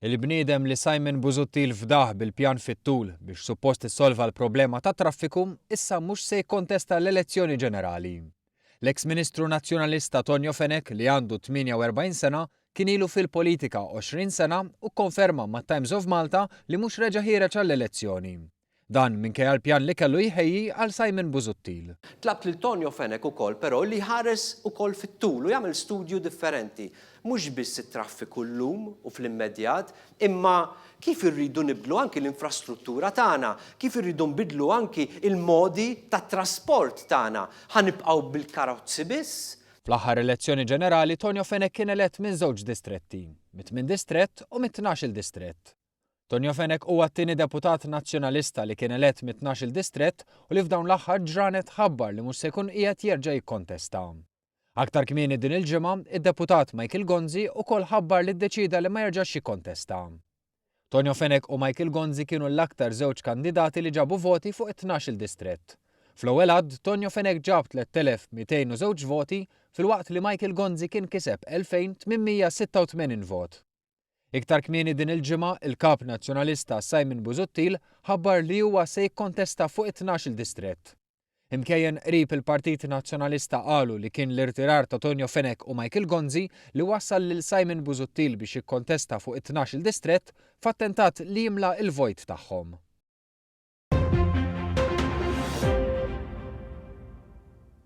Il-bniedem li Simon Busuttil fdah bil-pjan fit-tul biex suppost issolva l-problema tat-traffiku issa mhux se jikkontesta l-elezzjoni ġenerali. L-eks Ministru Nazzjonalista Tonio Fenech li għandu 48 sena kien ilu fil-politika 20 sena u kkonferma mat-Times of Malta li mhux reġa' ħiereġ għall-elezzjoni. Dan minkejja l-pjan li kellu jħejji għal Simon Busuttil. Tlabt lil Tonio Fenech ukoll però li jħares ukoll fit-tul u jagħmel studju differenti, mhux biss it-traffiku llum u fl-immedjat, imma kif irridu nibdlu anki l-infrastruttura tagħna, kif irridu nbiddlu anki l-modi tat-trasport tagħna. Ħa nibqgħu bil-karozzi biss? Fl-aħħar elezzjoni ġenerali Tonio Fenech kien elett minn żewġ distretti, mit-tmien distrett u mit-tnax-il distrett. Tonio Fenech huwa t-tieni deputat Nazzjonalista li kien elett mit-tnax-il distrett u li f'dawn l-aħħar ġranet ħabbar li mhux se jkun qiegħed jerġa' jikkontesta. Aktar kmieni din il-ġimgħa, id-deputat Michael Gonzi ukoll ħabbar li ddeċieda li ma jerġax jikkontesta. Tonio Fenech u Michael Gonzi kienu l-aktar żewġ kandidati li ġabu voti fuq it-tnax-il distrett. Fl-ewwel għadd, Tonio Fenech ġab 3,202 voti filwaqt li Michael Gonzi kien kiseb 2,886 vot. Iktar kmieni din il-ġimgħa, il-Kap Nazzjonalista Simon Busuttil ħabbar li huwa se jikkontesta fuq it-tnax-il distrett. Imkejjen qrib il-Partit Nazzjonalista qalu li kien l-irtirar ta' Tonio Fenech u Michael Gonzi li wassal lil Simon Busuttil biex jikkontesta fuq it-tnax-il distrett f'attentat li jimla l-vojt tagħhom.